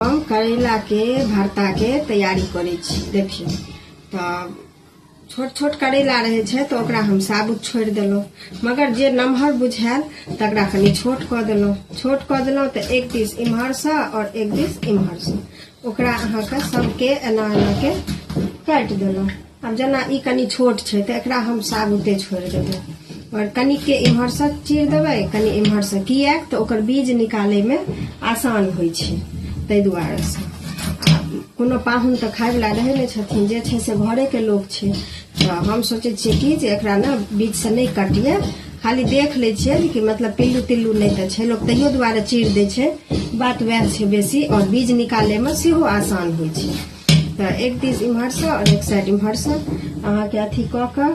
हम करैलाके भर्ताके तैयारी करै छी देखियौ तऽ छोट छोट करैला रहै छै तऽ ओकरा हम साबुत छोड़ि देलहुँ मगर जे नमहर बुझायल तकरा कनि छोट कऽ देलहुँ छोट कऽ देलहुँ तऽ एक दिस इम्हरसँ आओर एक दिस इम्हरसँ ओकरा अहाँके सभके एना एनाके काटि देलहुँ आब जेना ई कनि छोट छै तऽ एकरा हम साबुते छोड़ि देबै आओर कनिके इम्हरसँ चीर देबै कनि इम्हरसँ किएक तऽ ओकर बीज निकालैमे आसान होइ छै ताहि दुआरेसँ कोनो पाहुन तऽ खायवला रहै नहि छथिन जे छै से घरेके लोक छै तऽ हम सोचै छियै कि जे एकरा ने बीजसँ नहि कटिए खाली देख लै छियै कि मतलब पिल्लू तिल्लू नहि तऽ छै लोक तैयो दुआरे चीर दै छै बात वएह छै बेसी आओर बीज निकालैमे सेहो आसान होइ छै तऽ एक दिस इम्हरसँ आओर एक साइड इम्हरसँ अहाँके अथी कऽ कऽ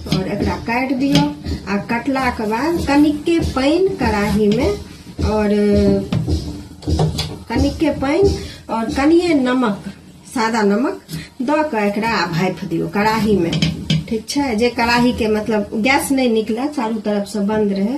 आओर एकरा काटि दियौ आ कटलाके बाद कनिके पानि कड़ाहीमे आओर कनिके पानि आओर कनिए नमक सादा नमक दऽ कऽ एकरा आ भापि दियौ कड़ाहीमे ठीक छै जे कड़ाहीके मतलब गैस नहि निकलय चारू तरफसँ बन्द रहै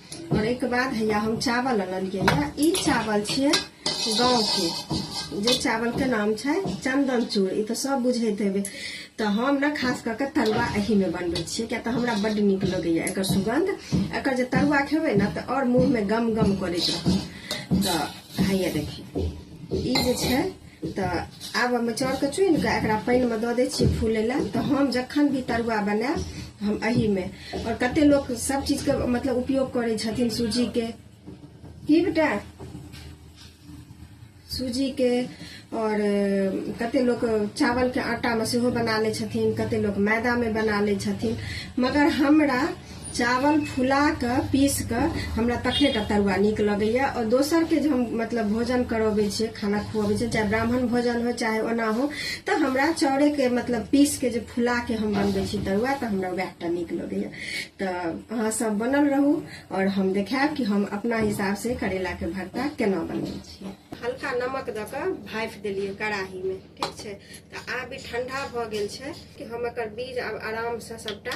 और एक बाद हैया हम चावल ललियै या ई चावल छियै गाँव के जे चावल के नाम छै चंदन चूर ई तऽ सब बुझैत हेबै तऽ हम ने खास कऽ के तरुआ एही में बनबै छियै किया तऽ हमरा बड नीक लगैया एकर सुगंध एकर जे तरुआ खेबै ने तऽ और मुंह में गम गम करैत रहत तऽ हैया देखियौ ई जे छै तऽ आब हम चाउरके चुनि कऽ एकरा पानिमे दऽ दै छियै फूलै लए तऽ हम जखन भी तरुआ बनायब हम एहिमे आओर कते लोक सब चीजके मतलब उपयोग करै छथिन सूजीके की बेटा सूजीके आओर कते लोक चावलके आटामे सेहो बना लै छथिन कते लोक मैदामे बना लै छथिन मगर हमरा चावल फुला कऽ पीस कऽ हमरा तखने टा तरुआ नीक लगैए आओर दोसरके जे हम मतलब भोजन करबै छियै खाना खुअबै छियै चाहे ब्राह्मण भोजन हो चाहे ओना हो तऽ हमरा चाउरेके मतलब पीसके जे फुलाके हम बनबै छी तरुआ तऽ हमरा वएह टा नीक लगैए तऽ अहाँ सब बनल रहू आओर हम देखायब कि हम अपना हिसाबसँ करैलाके भरता केना बनबै छियै हल्का नमक दऽ कऽ भाफि देलियै कड़ाहीमे ठीक छै तऽ आब ई ठण्डा भऽ गेल छै कि हम एकर बीज आब आरामसँ सभटा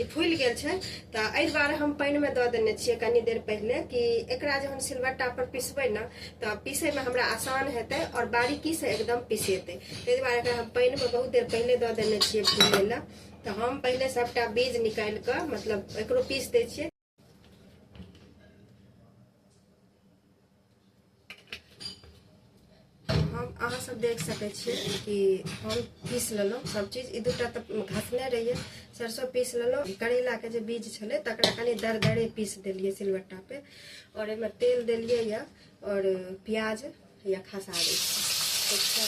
ई फूलि गेल छै तऽ एहि दुआरे हम पानिमे दऽ देने छियै कनी देर पहिले कि एकरा जहन सिलबट्टा पर पिसबै ने तऽ पीसैमे हमरा आसान हेतै आओर बारीकीसँ एकदम पिसेतै ताहि दुआरे एकरा हम पानिमे बहुत देर पहिले दऽ देने छियै फूलै लए तऽ हम पहिले सभटा बीज निकालि कऽ मतलब एकरो पीस दै छियै हम अहाँ सब देख सकै छियै कि हम पीस लेलहुँ सब चीज ई दूटा तऽ घसने रहियै सरसो पीस लेलहुँ करैलाके जे बीज छलै तकरा कनि दरदरे पीस देलियै सिलबट्टापे आओर एहिमे तेल देलियै यऽ आओर प्याज या खसा दै छै ठीक छै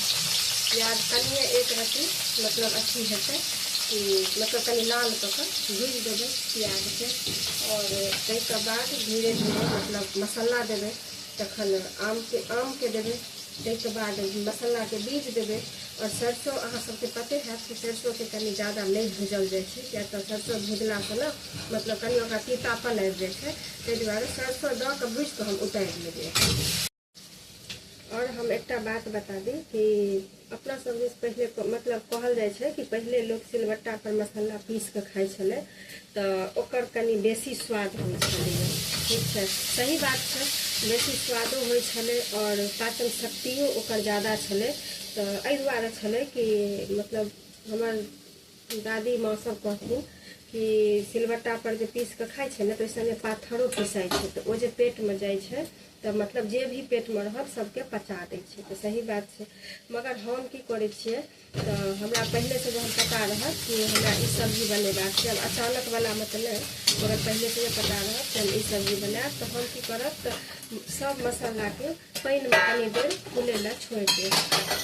प्याज कनिए एक रत्ती मतलब अथी हेतै कि मतलब कनि लाल कऽ कऽ भूजि देबै प्याजके आओर ताहिके बाद धीरे धीरे मतलब मसाला देबै तखन आमके आमके देबै ताहिके बाद मसालाके बीज देबै आओर सरिसो अहाँ सभके पते हैत कि सरिसोके कनि ज़्यादा नहि भूजल जाइ छै किएक तऽ सरिसो भुजलासँ ने मतलब कनि ओकरा तीतापन आबि जाइ छै ताहि दुआरे सरिसो दऽ कऽ भूजि कऽ हम उतारि लेबै आओर हम एकटा बात बता दी कि अपना सब दिस पहिले क- मतलब कहल जाइ छै कि पहिले लोक सिलबट्टा पर मसाला पीस कऽ खाइ छलै तऽ ओकर कनि बेसी स्वाद होइ छलैए ठीक छै सही बात छै बेसी स्वादो होइ छलै आओर पाचन शक्तियो ओकर ज्यादा छलै तऽ एहि दुआरे छलै कि मतलब हमर दादी माँ सब कहथिन कि सिलबट्टा पर जे पीस के खाइ छै ने तऽ ओहिसँ पाथरो पिसाइ छै तऽ ओ जे पेटमे जाइ छै तऽ मतलब जे भी पेटमे रहल सबके पचा दै छै तऽ सही बात छै मगर हम की करै छियै तऽ हमरा पहिलेसँ जहन पता रहत कि हमरा ई सब्जी बनेबाक छै आब अचानक वलामे तऽ नहि मगर पहिलेसँ जे पता रहत कि हम ई सब्जी बनायब तऽ हम की करब तऽ सब मसालाके पानिमे कनी देर फूलै लए छोड़ि देब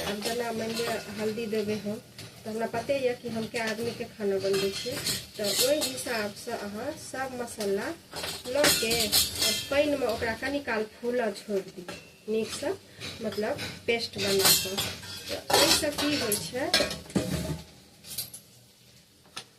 आब जेना मानि लिअ हल्दी देबै हम तऽ हमरा पते यऽ कि हम कए आदमीके खाना बनबै छियै तऽ ओहि हिसाबसँ अहाँ सब मसाला लऽ के आओर पानिमे ओकरा कनि काल फूलऽ छोड़ि दियौ नीकसँ मतलब पेस्ट बना कऽ तऽ ओहिसँ की होइ छै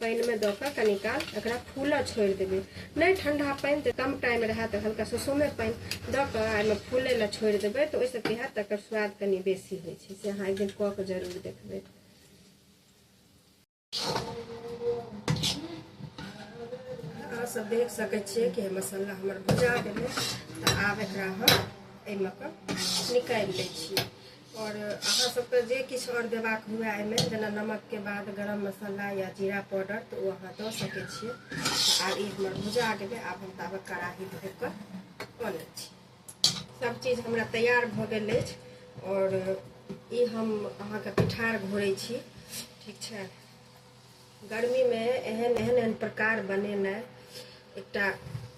पानिमे दऽ कऽ कनी काल एकरा फूलऽ छोड़ि देबै नहि ठंडा पानि जे कम टाइम रहए तऽ हल्का सुसुमे पानि दऽ कऽ एहिमे फूलै लए छोड़ि देबै तऽ ओहिसँ की हैत तकर स्वाद कनि बेसी होइ छै से अहाँ एक दिन कऽ कऽ जरूर देखबै अहाँ सब देख सकै छियै कि मसाला हमर भुजा गेलै तऽ आब एकरा हम एहिमे कऽ निकालि लै छियै आओर अहाँ सबके जे किछु आओर देबाक हुए एहिमे जेना नमकके बाद गरम मसाला या जीरा पाउडर तऽ ओ अहाँ दऽ सकै छियै आब ई हमर भुजा गेलै आब हम ताबे कड़ाही धो कऽ बनै छी सब चीज हमरा तैयार भऽ गेल अछि आओर ई हम अहाँके पिठार घोरै छी ठीक छै गर्मीमे एहन एहन एहन प्रकार बनेनाइ एकटा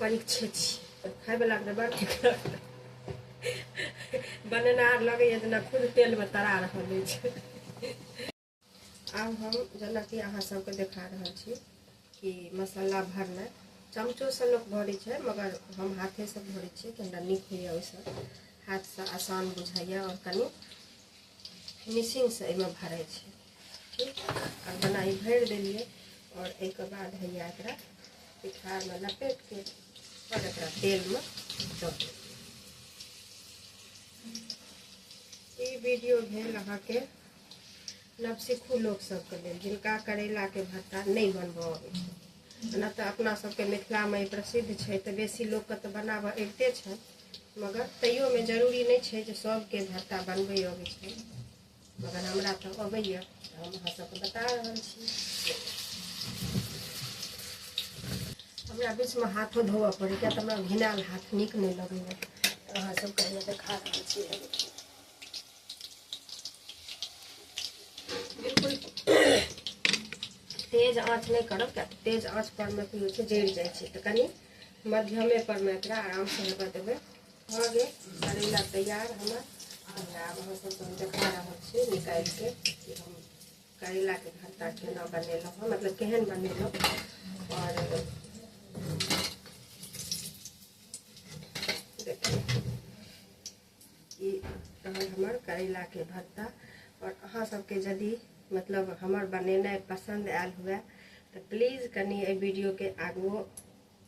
परीक्षे छी खायवलाके तऽ बड़ ठीक लगतै बनेनार लगैए जेना खुद तेलमे तरा रहल अछि आब हम जेनाकि अहाँ सबके देखा रहल छी कि मसाला भरनाइ चमचोसँ लोक भरै छै मगर हम हाथेसँ भरै छियै कि हमरा नीक होइए ओहिसँ हाथसँ आसान बुझाइए आओर कनि फिनिशिंगसँ एहिमे भरै छै ठीक आ बनाइ भरि देलियै आओर एहिके बाद हैया एकरा पिठारमे लपेट कऽ आओर एकरा तेलमे दऽ देलियै ई वीडियो भेल अहाँके नवसिखू लोकसभके लेल जिनका करैलाके भट्टा नहि बनबऽ अबै छै ओना तऽ अपना सबके मिथिलामे ई प्रसिद्ध छै तऽ बेसी लोकके तऽ बनाबऽ अबिते छै मगर तैयोमे जरूरी नहि छै जे सभके भट्टा बनबै अबै छै मगर हमरा तऽ अबैए हम अहाँ सबके बता रहल छी हमरा बीचमे हाथो धोअ पड़ै किया तऽ हमरा घिनायल हाथ नीक नहि लगैए अहाँ सबके हमे देखा रहल छी बिल्कुल तेज आँच नहि करब किया तेज आँच परमे की होइ छै जरि जाइ छै तऽ कनि मध्यमे परमे एकरा आरामसँ हेबऽ देबै भऽ गेल करैला तैयार हमर हमरा आब अहाँ सबके हम देखा रहल छी निकालिके कि हम करैलाके भर्ता केना बनेलहुँ हँ मतलब केहन बनेलहुँ आओर देखियौ ई रहल हमर करैलाके भर्ता आओर अहाँ सबके यदि मतलब हमर बनेनाइ पसन्द आयल हुए तऽ प्लीज कनि एहि वीडियोके आगुओ